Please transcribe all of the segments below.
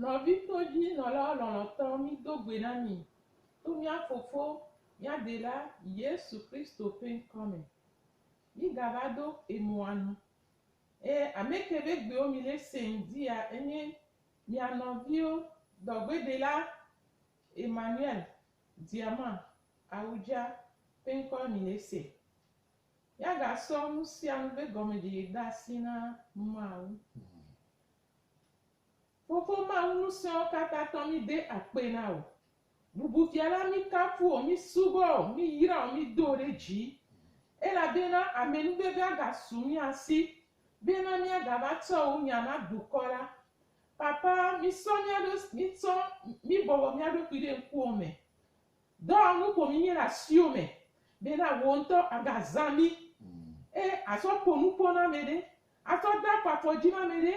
Nɔvitɔdzinɔla lɔlɔ̃tɔ, mído gbe na mi to mía Fofo, mía Dela, Yesu Kristo ƒe ŋkɔ me. Mígava do emɔa nu. Eye ameke be gbewo mi le seŋ dia enye mia nɔviwo dɔgbedela Emmanuel Diama Awudja ƒe ŋkɔe mi le se. Ya ga sɔ nusianu be gɔmedjeye de asi na Mawu. Fofo Mawu ŋusẽwo kata tɔ mi de akpe na wò. Bubufiala, míkafu wò, mísubɔ wò, míyra wò, mído wò ɖe dzi, elabena amenuvevea gasu mía si, bena míagava tsɔ wò nya na dukɔ la. Papa, mísɔ mía ɖo, mítsɔ, míbɔbɔ mía ɖokui ɖe ŋkuwò me. Dɔwɔnu ƒo mínye le asiwò me, bena wò ŋutɔ àgazã mí, eye àsɔ ƒo nu ƒo na ame ɖe, asɔ de afɔ afɔ dzi na ame ɖe,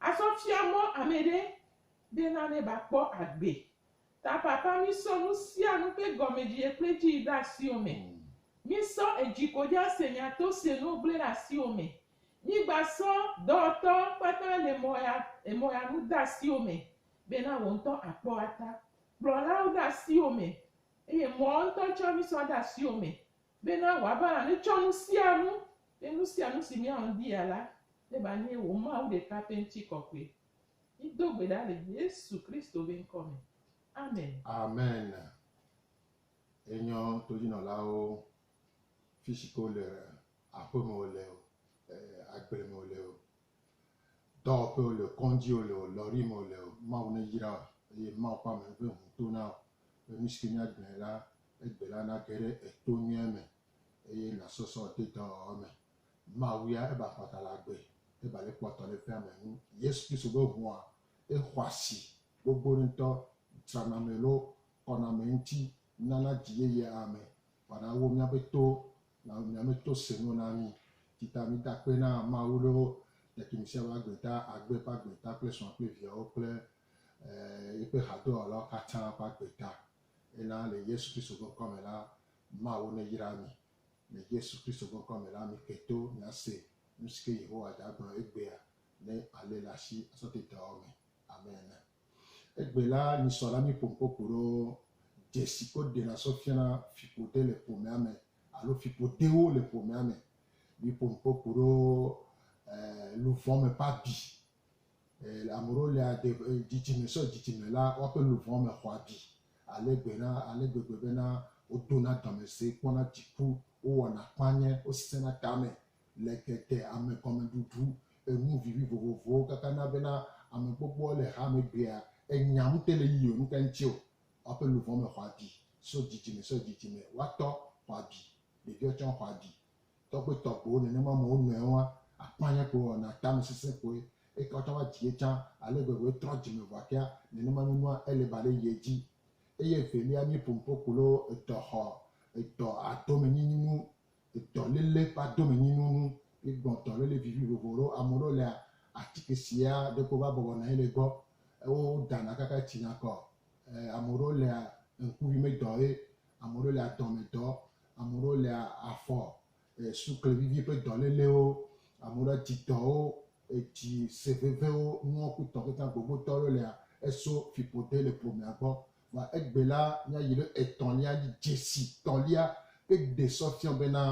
asɔ fia mɔ ame ɖe, Be nane ba kpɔ agbe. Ta papa mi sɔ nu sia nu ƒe gɔmedie kple dzi yi ɖe asiwo me. Mi sɔ edzi ko dza se nya to se nu gble ɖe asiwo me. Mi gba sɔ dɔwɔtɔ kpata le mɔ ya emɔ ya nu de asiwo me be na wo ŋutɔ a kpɔ wa ta. Kplɔlawo de asiwo me eye mɔ wo ŋutɔ tsɔ mi sɔ de asiwo me be na wa ba nane tsɔ nu sia nu be nu sia nu si mi a ŋdi ya la ne ba nye wo Mawu ɖeka ƒe ŋti kɔkɔe. Mído gbe ɖa le Yesu Kristo ƒe ŋkɔ me. Amen. Amen. Enyɔ todzinɔlawo fishike wole o, aƒe me wole o, agble me wole o, dɔwɔƒe wole o, kɔndzi wole o, lɔri me wole o, Mawu neyra wo eye Mawu ƒe ame ƒe ŋu to na wo be nushike míagblɔe la, egbe la nage ɖe eto nyuie me eye nasɔsɔ dedɔwɔwɔ me. Mawu ya eba kpɔta le agbe, eba le kpɔtɔ le ƒea me nu. Yesu Kristo be ŋua exɔasi gbogbo ŋutɔ drana ame lo kɔna ame ŋuti nana dzi yeyea ame wɔna wo miabe to na miame to se nu na mi. Tsita mi da kpe na Mawu lo ɖekimi sia be agbe ta, agbe ƒe agbe ta kple srɔ̃a kple viawo kple eh, yeƒe hadɔwɔlawo katã ƒe agbe ta. Ena le Yesu Kristo ƒe ŋkɔ me la, Mawu neyra mi. le Yesu Kristo ƒe ŋkɔa me la mi ke to mi ase nu si ke Yehowa da gblɔ egbea ne ale le asi asɔti dɔa me abe ene. Egbe la mi sɔ la mi ƒom kpɔ ku ɖo dze si ko ɖena sɔ fiana fiƒode le ƒomea me alo fiƒodewo le ƒomea me. Mi ƒom kpɔ ku ɖo eh, luvɔ me ƒe abi Amoreo le aɖe dzidzime sɔ dzidzime la woaƒe luʋɔ me xɔ abi ale gbe na ale gbegbe bena wodona dɔme se kpɔna dziku, wowɔna kpanye, wosesẽna tame le tete ame gɔmeɖuɖu enu vivi vovovowo kaka na bena ame gbogboa le hame gbea enya ŋute le yiyim nuka ŋuti o. Woaƒe luʋɔ me xɔ abi sɔ dzidzime sɔ dzidzime, woatɔ xɔ abi, ɖeviwo tsã xɔ abi Tɔgbuitɔgbuiwo nenema me wo nɔewo hã akpanya ko wɔna na tame sesẽ koe, eye ke woatsã woadzi ye tsã, ale vevie trɔ dzime vɔa kea, nenema nyɔnua Eliba ɖe yie dzi. Eye evelia nye ƒonuƒo ku loo, edɔ xɔ, edɔ adomenyinyi nu, edɔ lele ƒe adomenyinu nu, ye gblɔ dɔ lele vivi vovo ɖo, ame ɖewo lea, atike sia ɖeko va bɔbɔ nɔ anyi le gbɔ, wo ɖana kaka etsina kɔ, e, ame ɖewo lea, ŋkuvi medɔ ye ame ɖewo le adɔme dɔ, ame ɖewo le afɔ sukle vivi ƒe dɔ lelewo, ame ɖewo dzi dɔwo, edzi se vevewo, nuwo ku tɔ kekeŋ gbogbo dɔ ɖewo lea, eso fiƒode le ƒomea gbɔ. Vɔa egbe la, míayi ɖe etɔ̃lia dzi, dzesi tɔ̃lia ƒe gbe sɔ fiɔ bena,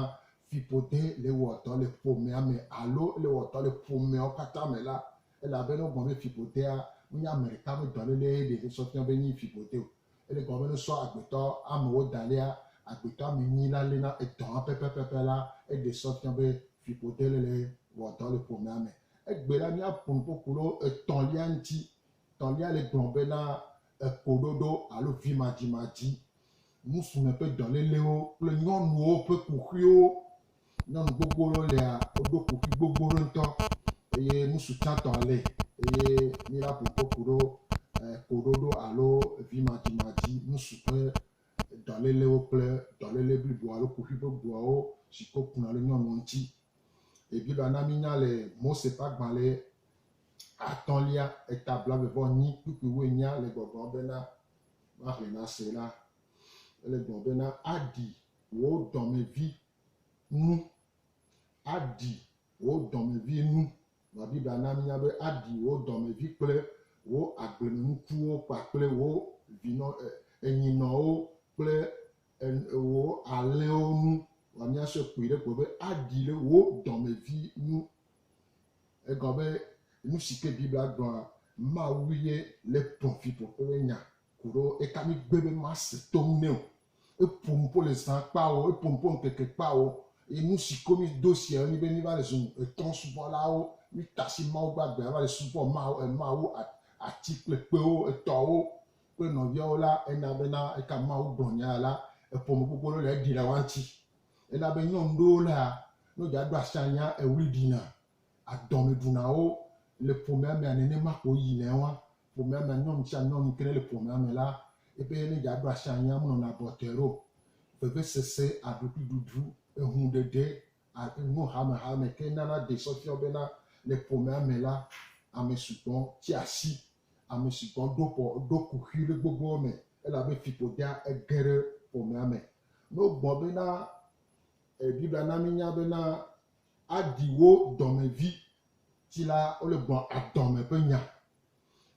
fiƒode le wɔ dɔ le ƒomea me alo ele wɔ dɔ le ƒomeawo katã me la, ele abe ne wogblɔ be fiƒodea menye ame ɖeka ƒe dɔlele ye ɖe sɔ fiɔ be enye fiƒode o, Ele gɔme be ne sɔ agbetɔ amewo da lea, agbetɔ ame enyi la léna edɔa pɛpɛpɛpɛ la, eɖe sɔ fia be fiƒode le le wɔ dɔ le ƒomea me. Egbe la, míaƒo nu ƒoƒu ɖo etɔ̃lia ŋuti. Tɔ̃lia le gblɔ be na ekoɖoɖo alo vimadzimadzi, ŋusume ƒe dɔlélewo kple nyɔnuwo ƒe kuxiwo Nyɔnu gbogbo ɖewo lia, woɖo kuxi gbogbo ɖe ŋutɔ eye nusi tsãtɔ le eye míva ƒo kpe ku ɖo koɖoɖo alo vimadzimadzi nusi ƒe dɔlélewo kple dɔléle blibo alo kuxi ƒe bubuawo si ke wokuna ɖe nyɔnuwo ŋuti. Biblia na mínya le Mose ƒe agbalẽ atɔ̃lia eta blaeve vɔ enyi kpukpuiwoe nya le gbɔgblɔm bena, Mahe nase la, ele gblɔm bena, aɖi wò dɔmevi nu. Aɖi wò dɔmevi nu. Vɔ Biblia na mínya be aɖi wò dɔmevi kple wò agblemenukuwo kpakple wò vinɔ, enyinɔwo kple wò alẽwo nu. Vɔ míasɔe kpui ɖe gbɔ be aɖi le wò dɔmevi nu. Egɔme nu si ke Biblia gblɔa, Mawu ye le dɔmeviɖoƒe ƒe nya ku ɖo. Eka mi gbe be mase to ŋu nɛ o? Eƒo nu ƒo le zã kpawo, eƒo nu ƒo ŋkeke kpawo. Eye nu si ko mído sia enye be míva le zu etɔ̃subɔlawo. Míte asi Mawu gbagbeawo va le subɔ Mawu, emawu, ati kple kpewo, etɔwo kple nɔviawo la. Ena bena eka Mawu gblɔ nya la, eƒo nu gbogbo ɖewo le eɖi le woa ŋuti. Ena be nyɔnu ɖewo la, ne wodze aɖo asi anya, eɣli ɖina, adɔme ɖuna wo. Le ƒomea mea, nenema ko woyinɛ woa. Ƒomea me nyɔnu sia nyɔnu yi ke nele ƒomea me la, ebe ne yeaɖo asi anyi menɔna abɔtɔe ɖo. Vevesese, aɖukliɖuɖu, ehuɖeɖe, enu hamehame ke nana ɖee sɔ fiɔ bena le ƒomea me la, ame sugbɔ tsi asi, ame sugbɔ ɖo ƒɔ ɖo kuxi le gbogboa me elabe fiƒodea ge ɖe ƒomea me. Ne wogblɔ bena, Biblia na míenya bena, Aɖi wò dɔmevi Ti la wole gbɔ adɔme ƒe nya.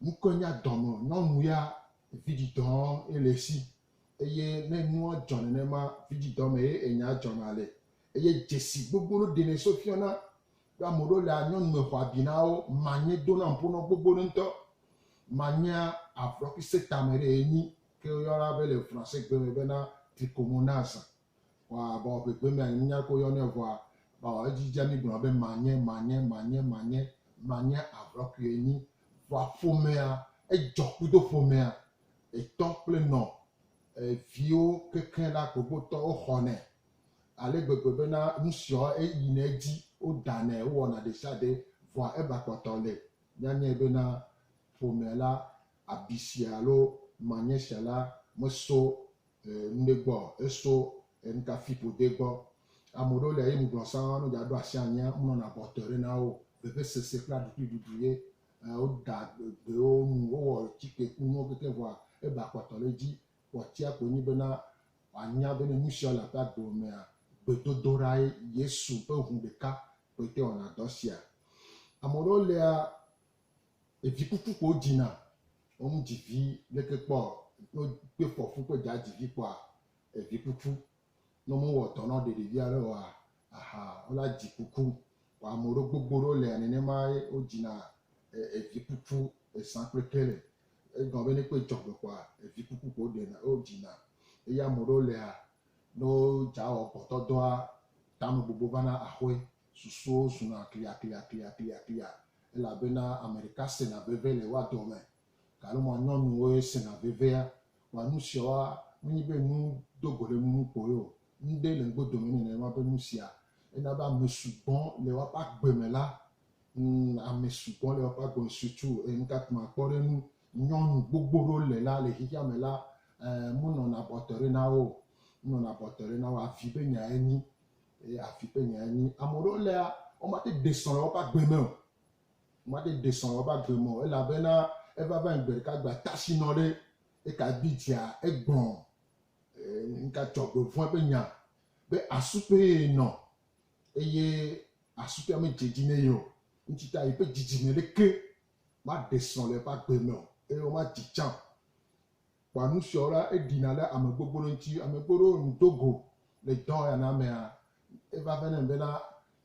Ŋkɔe nye adɔme. Nyɔnu ya vidzidɔ ye le esi eye ne nua dzɔ nenema vidzidɔ me ye enya dzɔna le eye dzesi gbogbo ɖe ɖenɛ so fiana be ame ɖewo le nyɔnu me xɔ abi na wo. Manye dona ƒo nɔ gbogbo ɖe ŋutɔ. Manye avrɔkise tame ɖe enyi ke woyɔna be le fransegbe me bena trichomonas. Wa bɔ gbegbe mea nye minya ko yɔnɛ vɔa ba wa edzi dza mi gblɔna be manye manye manye manye manye avrɔ kui enyi vɔa ƒomea edzɔ kudo ƒomea etɔ kple nɔ eviwo kekeŋ la gbogbo tɔ wo xɔnɛ ale gbegbe be na nusiɔ eyi nɛ edzi wo danɛ wo wɔna ɖesiaɖe vɔa eba kpɔtɔ le mia nyɛ be na ƒomea la abi sia alo manye sia la meso ŋɖe gbɔ eso enukafi ƒode gbɔ. Ame ɖewo lia ye ŋugblɔ sã ne wodza ɖo asi anyia wonɔna bɔtɔe ɖe na wo. Vevesese kple aɖukli ɖuɖu ye woda gbewo nu wowɔ tsike ku nuwo kekeŋ vɔa eba kpɔtɔ ɖe edzi. Kpɔtsia koe nye bena wòanya bene nusia le eƒe agbe mea gbedodoɖae Yesu ƒe ŋu ɖeka koe te wɔna dɔ sia. Ame ɖewo lia Evi kuku ko dzi na ɔmu dzi vi leke kpɔ no kpe fɔ fu kpe dza dzi vi kpɔa evi kuku no mu wɔ dɔ nɔ ɖeɖe via ɖe oa aha ola dzi kuku ko ame ɖo gbogbo ɖo lea nene ma ye o dzi na evi kuku esan kple ke le egɔ be ne kpe dzɔ gbe kpɔa evi kuku ko ɖe na o dzi na eya ame ɖo lea no dza wɔ gbɔtɔ dɔa tame gbogbo va na axoe Susuwo zuna kliakliakliakliaklia elabena ame ɖeka sena veve le woa dɔ me. Galoma nyɔnuwoe sena vevea. Wa nu siawoa, menye be nu do go ɖe nu ŋu kpoe o. Nuɖe le ŋgbe dome nenema be nu sia. Ena be ame sugbɔ le woaƒe agbe me la. Ŋ, ame sugbɔ le woaƒe agbe me. Sutu, e, nu ka kpɔm akpɔ ɖe eŋu. Nyɔnu gbogbo ɖewo le la, le xexea me la, e, monɔna bɔtɔe ɖe na wo o. Monɔna bɔtɔe ɖe na wo o. Avi be nyae nyi. Eye afi ƒe nyae nye, ame aɖewo lea, womate ɖe srɔ̃ le woƒe agbe me o. Womate ɖe srɔ̃ le woƒe agbe me o, elabena eva va nyi gbe ɖeka gbe ata si nɔ ɖe eka bi dzia, egbɔ ŋka dzɔgbevɔ̃e ƒe nya be asu kpee ye nɔ eye asu kpea medze edzi ne ye o. Ŋuti ta yeƒe dzidzime ɖeke maɖe srɔ̃ le eƒe agbe me o eye womadzi tsã o. Kpɔ nu siawo la, Eɖina ɖe ame gbogbo ɖe ŋuti. Ame gbogbo ɖewo nu do go le dɔ ya na mea. Eva vɛ na eme bena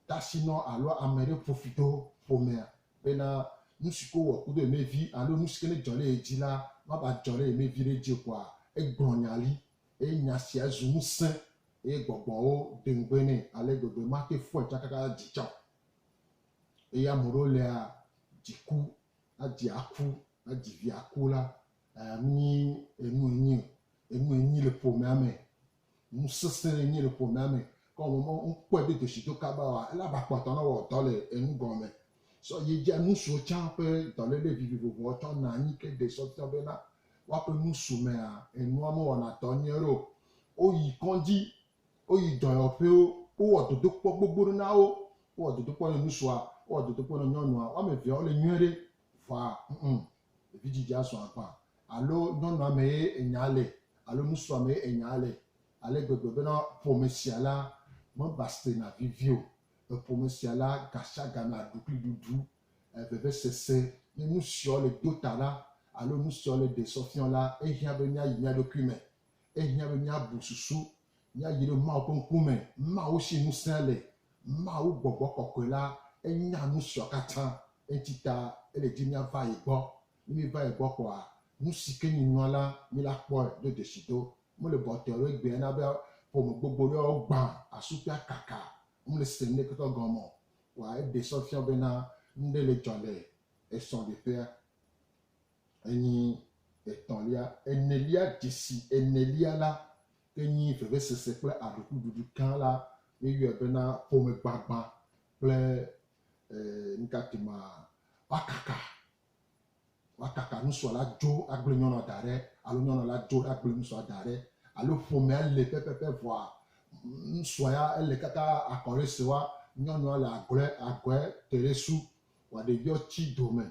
tasinɔ alo ame ɖe ƒo fi do ƒomea bena nu si ke wowɔ kudo yemɛ vi alo nu si ke ne dzɔ ɖe ye dzi la mava dzɔ ɖe yemɛ viɖe dzi o koa, egblɔ nya li eye nya sia zu ŋusẽ eye gbɔgbɔwo do ŋugbe nɛ ale gbegbe mate fɔe tsã kaka dzi tsã o. Eye ame ɖewo lia, dziku, adzi aku, adzi vi aku la, Nyi enu enyi o. Enu enyi le ƒomea me. Nu sesẽ enyi le ƒomea me. Ke wɔ mɔ ŋ kpɔɛ be deshi do kaba oa, ele aba kpɔtɔ nɔ wɔ dɔ le enu gɔnmɛ. Sɔ ye ji anu suwo can ƒe dɔlele vivivovoɔ tsɔ na anyi ke de sɔ fiɔ be na woaƒe nu su mea, enua me wɔna dɔ nyuiɖe o. Wo yi kɔdzi, wo yi dɔyɔƒewo, wo wɔ dodokpɔ gbogbo ɖe na wo. Wo wɔ dodokpɔ nɔ nusuwoa, wo wɔ dodokpɔ nɔ nyɔnua. Woame vea wo le nyuiɖe. Ʋa, ŋ-ŋ, vidzidzea sɔ agbã, alo nyɔnua mee enyaa le, alo ŋutsua mee enyaa le, ale gbegbe bena ƒome sia la mebastrena vevie o. Le ƒome sia la, gasiagame aɖukliɖuɖu, vevesese, ne nusiawo le do ta la, alo nusiawo le ɖe sɔfiɔ la, ehiã be míayi mía ɖokui me. Ehiã be míabu susu, míadzi ɖe Mawu ƒe ŋkume, Mawu si ŋusẽ le, Mawu gbɔgbɔ kɔkɔe la, enya nu siawo katã, eŋuti ta ele dim míava ye gbɔ. Ne míeva ye gbɔ kpɔa, nu si ke nye nua la, míla kpɔe do dzesi do. Mele bɔtɔe alo egbea na be ƒome gbogbo ɖe yewo gbã, asu kple akaka, womele se nu ɖekeke gɔme o. Kpɔa eɖe sɔ fiã wo bena nuɖe le dzɔ le esɔleƒea. Enyi etɔ̃lia, enelia, dzesi enelia la ke nyi vevesese kple aɖukliɖuɖu gã la. Míeyɔe bena ƒomegbagbã kple nukatimaa. Woakaka, woakaka nusua la dzo agblẽ nyɔnua da ɖe alo nyɔnua la dzo agblẽ nusua da ɖe alo ƒomea le pɛpɛpɛ vɔa nusua ya ele kaka akɔ ɖe se wa nyɔnua le agɔe agɔe te ɖe su Wòaɖe yɔ tsi dome.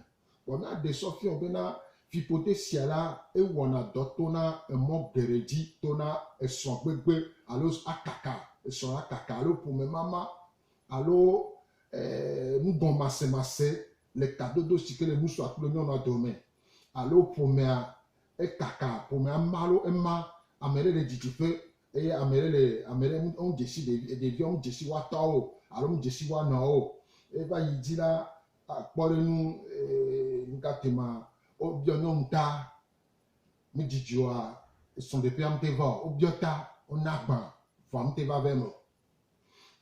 Vɔ ne aɖe sɔ fiɔ bena fiƒode sia la, ewɔna dɔ tona emɔ geɖe dzi, tona esrɔ̃ gbegbe alo akaka esrɔ̃ la kaka alo ƒomemama alo e nugɔnmasemase le tadodo si ke le ŋutsua kple nyɔnua dome alo ƒomea ekaka ƒomea ma alo ema ame ɖe le didiƒe Eye ame ɖe le, ame ɖe ŋu, eŋu dze si ɖevi, ɖevia ŋu dze si woa tɔwo o, alo ŋu dze si woa nɔwo o. Eye va yi dzi la, kpɔ ɖe nu, ee, nu ka te ma, wobiɔ nyɔnu ta, mi dzidzɔa, srɔ̃ ɖeƒea mi te va o, wobiɔ ta, wona agba, vɔa mi te va va eme o.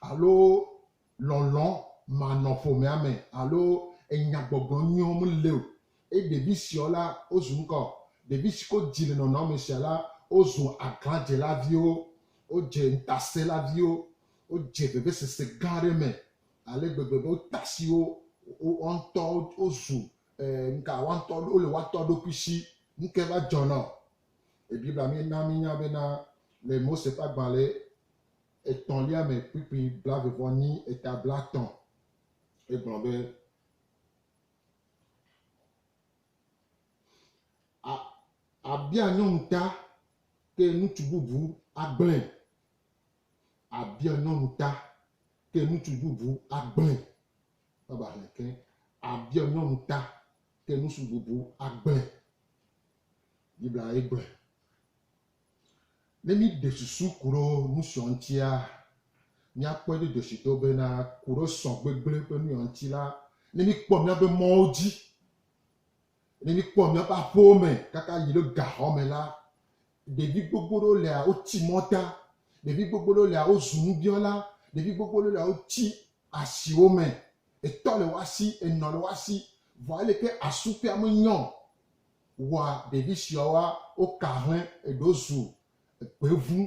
Alo lɔlɔ̃ manɔ ƒomea me alo enyagbɔgblɔ nyuiwo meli o, eye ɖevi siawo la, wozu ŋkɔ. Ɖevi siwo dzi le nɔnɔme sia la, wozu aglãdzela viwo, wodze ŋutasẽla viwo, wodze vevesese gã aɖe me ale gbegbe be wode asi wo wo ŋutɔwo, wozu nuka woatɔ, wole woatɔ ɖokui si. Nukae va dzɔna? Biblia na míenya bena le Mose ƒe agbalẽ etɔ̃lia me kpukpui blave vɔ nyi eta blatɔ̃. Egblɔ be, A, abia nyɔnu ta, ke nutsu bubu agblẽ. Abia nyɔnu ta, ke nutsu bubu agblẽ. Baba hlẽ ke. Abia nyɔnu ta, ke nutsu bubu agblẽ. Biblia ye gblɔe. Ne míɖe susu ku ɖo nusiɔ ŋutia, míakpɔɛ do dɔshido bena ku ɖo sɔ gbegble ƒe nuiɔ ŋuti la, ne míkpɔ míabe mɔwo dzi, ne míkpɔ míabe aƒewo me kaka yi ɖo gaxɔ me la, ɖevi gbogbo ɖewo lia, woti mɔta, ɖevi gbogbo ɖewo lia, wozu nubiɔla, ɖevi gbogbo ɖewo lia, wotsi asiwo me, etɔ le woasi, enɔ le woasi, vɔ aleke asu ƒea menyɔ Wa ɖevi siawa wo kahlẽ eɖo zu gbevu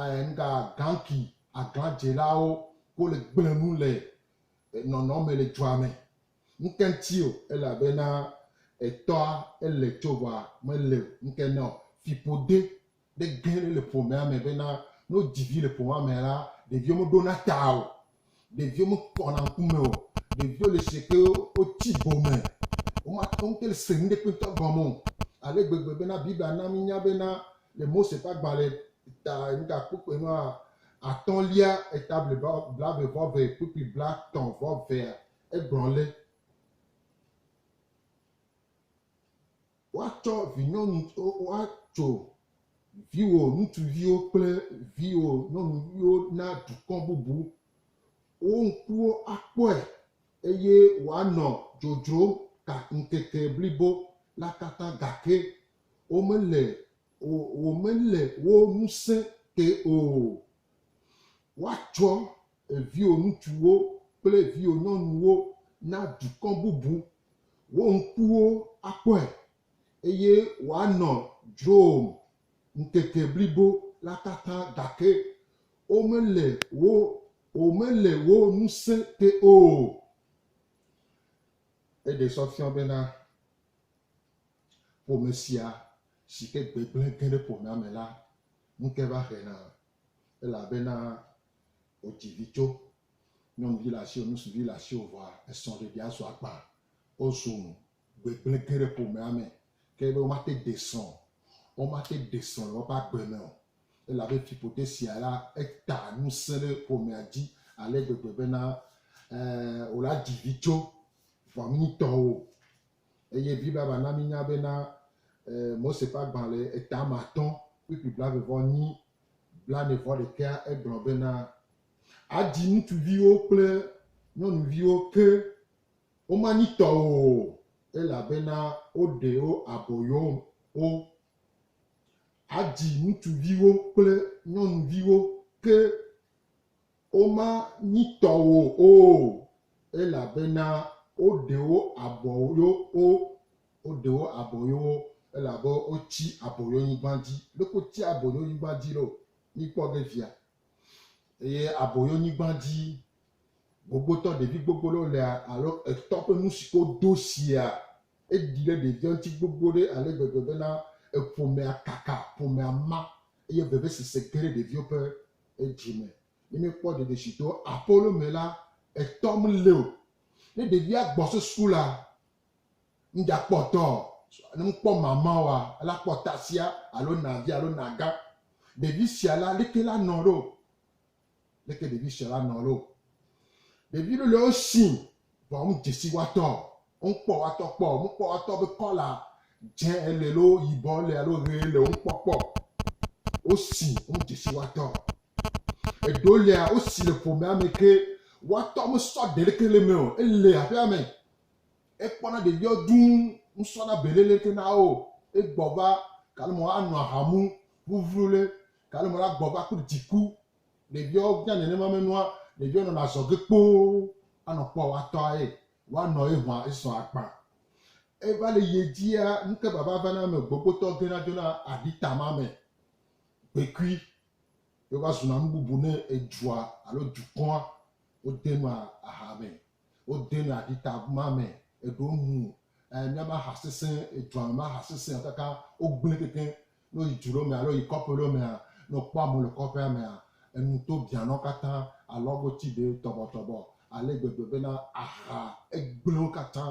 eh nga ganki agla dzelawo ko le gble nu le eh nɔnɔ me le dua me. Ŋke ŋti o elabena eh tɔa ele tso wa me le ŋke nɔ fiƒode ɖe ge ɖe le ƒomea me bena ne wodzi vi le ƒomea me la, ɖeviwo meɖona ta o, ɖeviwo mekpɔna ŋkume o, ɖeviwo le se ke wotsi gome, womate ŋu te se nu ɖe kpetɔ gɔme o, ale gbegbe bena Biblia na mínya bena le Mose ƒe agbalẽ ta nukakpukpui nua atɔ̃lia eta blibo blaeve vɔ eve kpukpui blatɔ̃ vɔ evea, egblɔ le. Woatsɔ vinyɔnuviwo atso viwò ŋutsuviwo kple viwò nyɔnuviwo na dukɔ bubu. Wo ŋkuwo akpɔe, eye woanɔ dzodzrom ta ŋkeke blibo la katã, gake womele, womele wo ŋusẽ te o. Woatsɔ Viwò ŋutsuwo kple viwò nyɔnuwo na dukɔ bubu, wò ŋkuwo akpɔe, eye wòanɔ dzrowòm ŋkeke blibo la katã, gake womele wò womele wò ŋusẽ te o. Eɖe sɔ fiɔ bena ƒome sia si ke gbegblẽ ge ɖe ƒomea me la ŋuke va hena, elabena wodzi vidzo, nyɔnuvi le asiwò, ŋutsuvi le asiwò vɔa, esrɔ̃ɖeɖia zu akpa. Wozu nu gbegblẽ ge ɖe ƒomea me. Ke be womate ŋu aɖe srɔ̃ o. Womate ŋu aɖe srɔ̃ le woƒe agbe me o. Elabe fiƒode sia la, eta ŋusẽ ɖe ƒomea dzi ale gbegbe bena, e, wòle adzi vidzo vɔ mí tɔwo. Eye Biblia va na mínya bena, e, Mose ƒe agbalẽ etame atɔ̃ kpukpui blaeve-vɔ-enyi blaene-vɔ-ɖekɛa egblɔ bena, Adzi ŋutsuviwo kple nyɔnuviwo ke womanyi tɔwò o, elabena woɖe wo aboyowo. Adzi ŋutsuviwo kple nyɔnuviwo ke Womanyi tɔwò o, elabena woɖe wo aboyo wo, woɖe wo aboyo wo, elabe wotsi aboyonyigba dzi. Leke wotsia aboyonyigba dzi ɖo? Míkpɔ ge fia. Eye aboyonyigba dzi gbogbotɔ ɖevi gbogbo ɖewo lea, alo etɔ ƒe nu siwo wodo sia, eɖi ɖe ɖevia ŋuti gbogbo ɖe ale gbegbe bena eƒomea kaka, ƒomea ma eye vevesese ge ɖe ɖeviwo ƒe edzi me. Ne míekpɔ ɖeɖe si to Apolo me la, etɔ mele o. Ne ɖevia gbɔ so sukulu la, ŋdza kpɔ etɔ o. Ne ŋkpɔ mama oa, ela kpɔ tasia alo navia alo naga. Ɖevi sia la, leke la nɔ ɖo? Leke ɖevi sia la nɔ ɖo? Ɖevi lelewo si Vɔ ŋ djesi watɔ ɔ, ŋ kpɔ watɔ kpɔ ɔ, ŋ kpɔ watɔ be kɔla djɛ ele lo yibɔ ele alo ɣe ele ɔ, ŋ kpɔ kpɔ wo si ŋ djesi watɔ ɔ. Eɖo lea wo si le ƒomea me ke watɔ me sɔ ɖe leke le me ɔ, ele aƒea me. E kpɔna ɖeviɔ duu, ŋ sɔna bele leke na wo e gbɔ va, kalo mɔ a nɔ ahamu ʋuʋlu le, kalo mɔ la gbɔ va kple djiku Ɖeviawo nya nenema me nua, ɖeviawo nɔna azɔge kpoo anɔ kpɔa woatɔa ye, woanɔ ye hũa esɔ akpa. Eva le yie dzia, nuke vava vana eme gbogbotɔ gena dzona aɖi tama me kpekui ye wova zuna nu bubu ne edua alo dukɔa. Wode nua aha me, wode nua aɖi tama me, eɖewo nu, eh, mía ma ha sesẽ, edua me ma ha sesẽ o kaka wogblẽ kekeŋ. Ne woyi du ɖewo mea alo woyi kɔƒe ɖewo mea, ne wokpɔ amewo le kɔƒea mea, enu to biã na wo katã, alɔago ti ɖe tɔbɔtɔbɔ ale gbegbe bena aha gblẽ wo katã.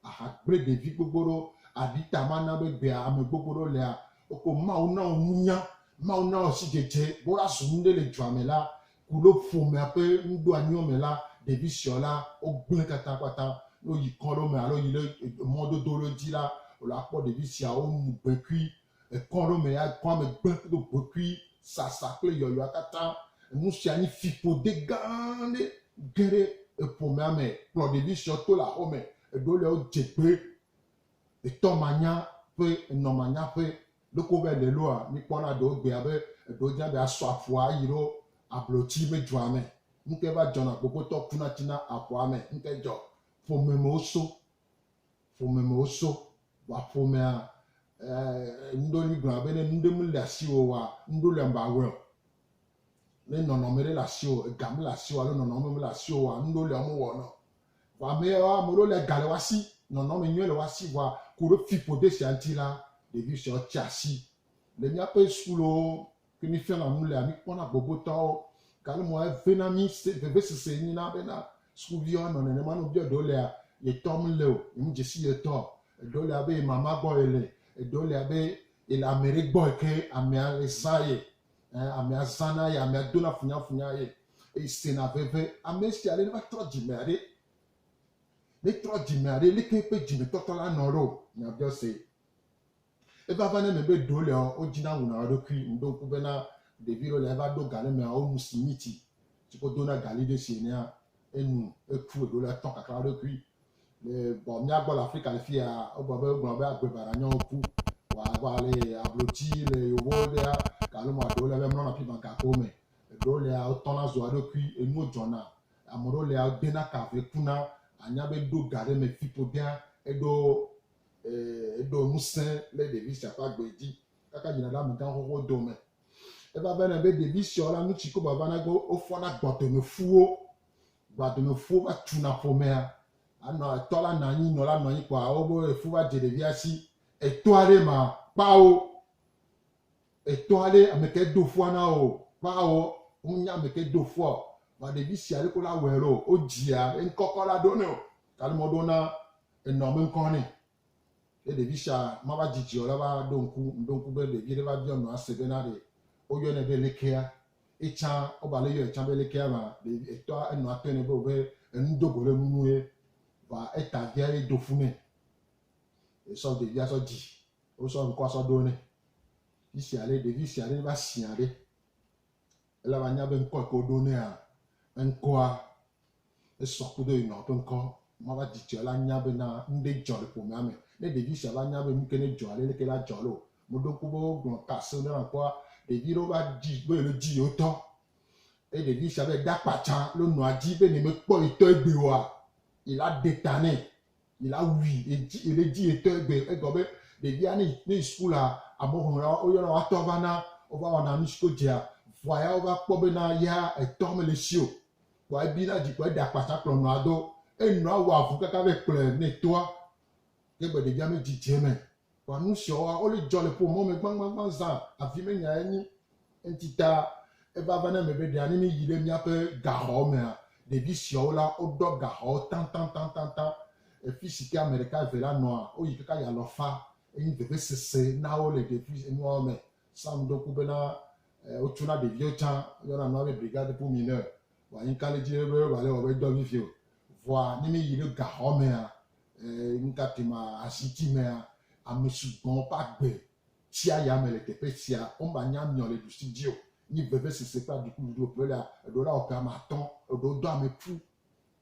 Aha gblẽ ɖevi gbogbo ɖewo. Aɖi ta mana be egbea ame gbogbo ɖewo lea, woko Mawu na wo nunya, Mawu na wo sidzedze be woazu nu ɖe le dua me la, ku ɖe ƒomea ƒe nuɖoanyiwo me la, ɖevi suewo la, wogblẽ katakpata. Ne woyi kɔ ɖewo me alo yi ɖe mɔdodo ɖewo dzi la, wòle akpɔ ɖevi siawo womu gbe kui. Ekɔ ɖewo me ya, kɔa me gblẽ do gbe kui, sasa kple yɔyɔa katã. Nu sia nyi fiƒode gã aɖe. Ge ɖe eƒomea me, kplɔ ɖevi suewo to le aƒe me. Eɖewo lia, wodze gbe etɔmanya ƒe enɔmanya ƒe Ɖeko be nèloa, mìkpɔna ɖewo gbe abe eɖewo dina be asɔ aƒua ayi ɖo ablotsi be dzoa me. Nukae va dzɔna gbogotɔ kuna tsina aƒua me? Nukae dzɔ? Ƒomemewo so. Ƒomemewo so. Vɔa ƒomea, ɛɛ, ŋɖewo li gblɔna be ne nu ɖe mele asiwò oa, ŋɖewo lia mèawɔe o. Ne nɔnɔme ɖe le asiwò, ega mele asiwò alo nɔnɔme mele asiwò oa, ŋɖewo lia womewɔnao. Vɔ ne ame ɖewo le ga le woa si, nɔnɔme nyui le woa si vɔa, ku ɖe fiƒode sia ŋuti la, ɖevi sueawo tsia asi. Le míaƒe sukulowo ke mí fiana nu lea, mí kpɔna gbogbotɔwo. Gake mɔ eŋe na mí se vevesese enye na bena sukuviwo anɔ nenema ne wobiɔ ɖewo lea, ye tɔ me le o, ye me dze si ye tɔ o. Eɖewo le abe ye mama gbɔ ye le, eɖewo le abe ye le ame ɖe gbɔ yi ke amea le zã ye. Ɛ̃, amea zãna ye, amea dona funyafunya ye. Esena veve. Ame sia ame va trɔ dzimea ɖe. Ne trɔ dzimea ɖe, leke eƒe dzimetɔtɔ la nɔ ɖo? Nya biɔ se. Eva va na eme be ɖewo lia, wodzina wuna wo ɖokui. Meɖo ŋku be na ɖevi ɖewo lia, eva ɖo ga ɖe mea, wonu simiti si ko dona gali ɖe sie nea, enu, eku. Eɖewo lia, etɔ kakra wo ɖokui. Le vɔ mía gbɔ le Afrika le fiya, wogblɔ be wogblɔ be agbe baɖa nyɔ ŋku. Vɔa le ablotsi le yewo gbɔ ɖea, galo mɔa ɖewo lia, mia mlɔna afi ma gakowo me. Eɖewo lia wotɔna zua eɖokui, enuwo dzɔna. Ame ɖewo lia wodena ka ve kuna. Anya be ɖo ga ɖe me fi ƒodea eɖo eɖo ŋusẽ le ɖevi sia ƒe agbe dzi kaka yina ɖe amegã xoxo dome. Eva vena be ɖevi siawo la nu tsi koba vana be wofɔna gbɔdomefuwo. Gbadomefuwo va tuna ƒomea. Anɔ etɔ la nɔ anyi, nɔ la nɔ anyi kpɔa ewo be efu va dze ɖevia si. Etoa ɖe ma kpa wo. Etɔ aɖe ameke do fua na wò ƒe awɔ, wonya ameke do fua o, vɔa ɖevi sia ɖe kola awɔe ɖo o, wodzia eŋkɔ kɔla ɖo nɛ o, gake mɔ ɖona enɔa me ŋkɔ nɛ. Ne ɖevi sia mava dzidzi o la va ɖo ŋku, mɖo ŋku be ɖevi ɖe va biɔ nɔa se bena ɖe woyɔnɛ be lekea, etsã wova le yɔe tsã be lekea ma, ɖevi etɔa enɔa tɔe nɛ be wobe enu dogo ɖe enu nu ye, vɔa eta via ye do fu nɛ ye sɔ ɖevia sɔ dzi Wosɔ ŋkɔa sɔ ɖo nɛ. Fi sia ɖe ɖevi sia ɖe va sia ɖe, ele be anya be ŋkɔ yi ke woɖo nɛa, eŋkɔa, esɔ kudo ye nɔ ƒe ŋkɔ. Mava dzi tsɔ la nya be na nu ɖe dzɔ le ƒomea me. Ne ɖevi sia va nya be nu ke ne dzɔ ale leke la dzɔ loo, meɖo ŋku be wogblɔ ŋkɔ aseŋ ɖe na ŋkɔa, ɖevi ɖewo va dzi be yewole dzi yewo tɔ. Eye ɖevi sia va yi ɖe akpa tsã loo nɔa dzi be ne mekpɔ yi tɔ egbe oa, yi la ɖe ta nɛ. Yi la wui edzi eɖe edzi etɔ egbe egɔ be ɖevia ne yi ne yi sukulu la amewo hlɔ̃ la woyɔna woatɔ va na wova wɔna nu si ko dzea vɔa ya wova kpɔ be na ya etɔ mele esi o kpɔa ebi na dzi kpɔ eɖe akpasa kplɔ nɔa do enɔa wɔ avu kaka vɛ kplɔe ne toa ke gbe ɖevia medzi dze eme Kpɔ nu siwo wa wole dzɔ le ƒomɔ me gbagbagba zã avi me nyae nyi. Enti ta eva va na eme be ɖe anyi mi yi ɖe miaƒe gaxɔ mea, ɖevi siawo la woɖɔ gaxɔwo tantantantanta. Efi si ke ame ɖeka eve la nɔa, woyi kaka yi alɔfa. Enyi vevesese na wo le ɖevi enuawo me. Sam ɖo ŋku bena wotso na ɖeviwo tsã. Woyɔna nua be brigade pour mineur. Vɔ anyi ka le edzi ɖe be wòale wɔ be dɔ vivi o. Vɔa ne mi yi ɖe gaxɔ mea, E nukae ma aziti mea? Ame sugbɔ ƒe agbe tsia yame le teƒe sia. Womanya miɔ le ɖusi dzi o. Nyi vevesese kple adikuɖuɖu ƒe la, eɖewo la wɔ ƒe ame atɔ̃. Eɖewo do ame ƒu,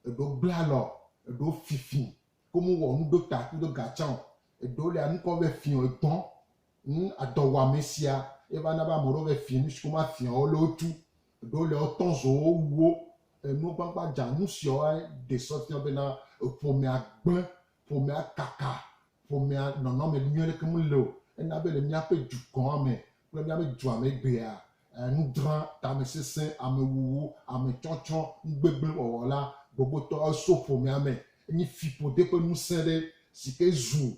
eɖewo gblẽ alɔ, eɖewo fifi ke womewɔ nu ɖo ta kudo ga tsã o. Eɖewo lia nu kɔ ve fiɔ edɔ. Ŋ, edɔwɔame sia ye va na be ame ɖewo ve fiɔ nusi ke womafiɔ o le wotu. Ɖo le wotɔ zowo wuwo enu gbagbã dzanu siɔa ɖe se fia be na ƒomea gblẽ, ƒomea kaka, ƒomea nɔnɔme nyuie ɖeke me le o. Ena be le míaƒe dukɔa me kple míaƒe dua me egbea, nudrã, tamesesẽ, amewuwu, ametsɔtsɔ, nugbegblẽ wɔwɔ la gbogbotɔ eso ƒomea me. Enye fiƒode ƒe ŋusẽ ɖe si ke zu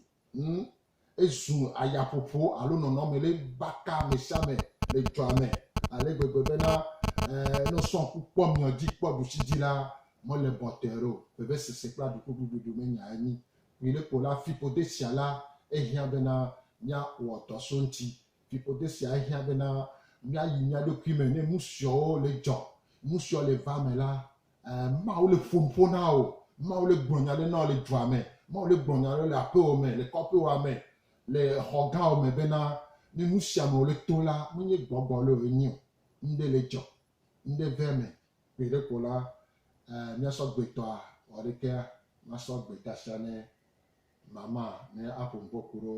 Ezu ayaƒoƒo alo nɔnɔme ɖe baka me sia me le dua me ale gbegbe bena ne wosɔ ŋku kpɔ mia dzi kpɔ ɖusi dzi la, mele bɔtɛe o. Vevesese kple aɖukugluɖuɖu menyae anyi kpuie ɖe kpo la, fiƒode sia la hiã bena míawɔ dɔ so eŋuti. Fiƒode sia hiã bena míayi mía ɖokui me ne nusiawo le dzɔ. Nusiawo le va eme la, Mawu le ƒo nuƒo na wò. Mawu le gblɔ nya ɖe na wò le dua me. Mawu le gblɔ nya ɖe le aƒewò me, le kɔƒewòa me, le xɔ gãwò me bena, ne nu sia me wòle tom la, menye gbɔgbɔ le wòe nyi o. Nuɖe le dzɔ. Nuɖe ve eme. Gbeɖe ko la, míasɔ gbetɔa wɔ ɖe kea, masɔ gbeta sia ne mama ne aƒo nuƒo ku ɖo.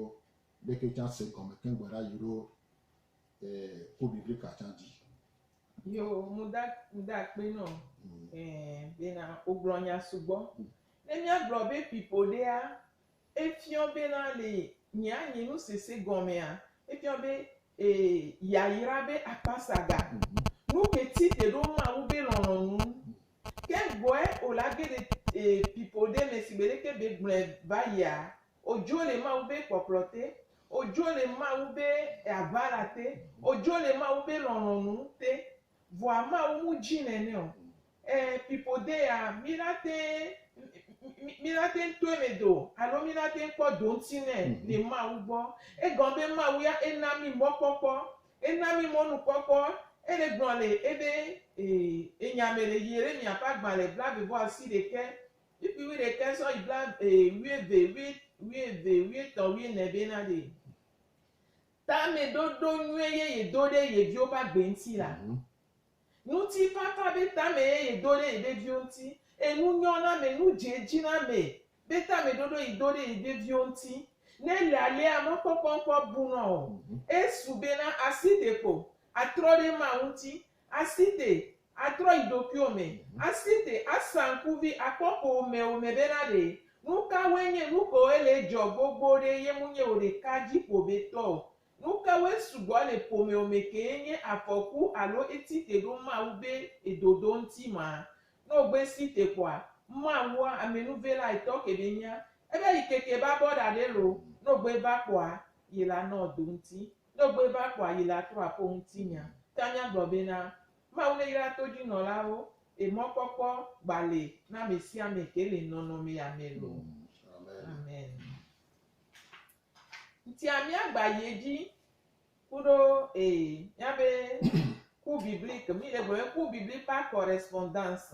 Ɖeke tsã se gɔme keŋ gbeɖa yi ɖo. eh, kó bibli katã dzi. Yo, mu da, mu da akpe nɔ mm. eh, bena wogblɔ nya sugbɔ. Mm. Ne míagblɔ be pipo ɖea, efiɔ bena le nyea nye nu sese gɔmea, efiɔ be eh, yayra be akpasaga. Mm -hmm. Nu ke ti te ɖo Mawu be lɔlɔ̃nu. Mm. Ke gbɔe o la ge ɖe eh, pipo ɖe me si gbeɖe ke be gblɔe va yia, Ojo le Mawu be kpɔkplɔ te. Ojo le Mawu be aʋala te. Ojo le Mawu be lɔlɔnu te. Vɔa Mawu mu dji nɛnɛ o. Ɛ pipo de ya mi na teŋ mi na teŋ tɔɛ me do alo mi na teŋ kpɔ doŋti nɛ le Mawu gbɔ. Egɔn be Mawu ya e na mi mɔ kpɔkpɔ. E na mi mɔ nu kpɔkpɔ. E le gblɔ le ebe e enya me le yi re mia ƒe agbalɛ blave vɔ asi ɖekɛ Kpikpi wuiɖekɛ sɔ yi bla ee wuieve wui wuieve wuietɔ wuiene be na ɖee. Tameɖoɖo nyuie ye yedo ɖe ye viwo ƒe agbe ŋuti la. Ŋutifafa be tame ye yedo ɖe yeƒe viwo ŋuti eye nunyɔname, nudzeedziname be tameɖoɖo yi do ɖe yeƒe viwo ŋuti. Ne ele alea, mɔkpɔkpɔ ŋkɔ bunɔ o. Esu bena asi ɖeko atrɔ ɖe ema ŋuti Asi te, atrɔ yi ɖokuiwò me. Asi te, asa ŋkuvi akpɔ ƒowòmewo me bena ɖe nukawoe nye nukewoe le edzɔ gbogbo ɖe ye ŋu nye wò ɖeka dziƒoʋetɔ o. Nukawoe sugbɔ le ƒomewò me kee nye afɔku alo èti te ɖo Mawu be edodo ŋuti ma? Ne wògbe si te kpɔa, Mawua, amenuvela etɔ ke be nya ebe yi keke babɔ ɖa ɖe lo, ne wògbe va kpɔa, yela nɔ do ŋuti. Do gbe be akpɔ ayi le atrɔ aƒo ŋutinya. Tanya gblɔ bena, Mawu neyra todzinɔlawo e mɔkpɔkpɔ gba le na amesiame ke le nɔnɔmea me lo. Amen. Ŋtia miagba yi edzi kuɖo e miabe ku biblique, mi le gblɔ be ku biblique par correspondance.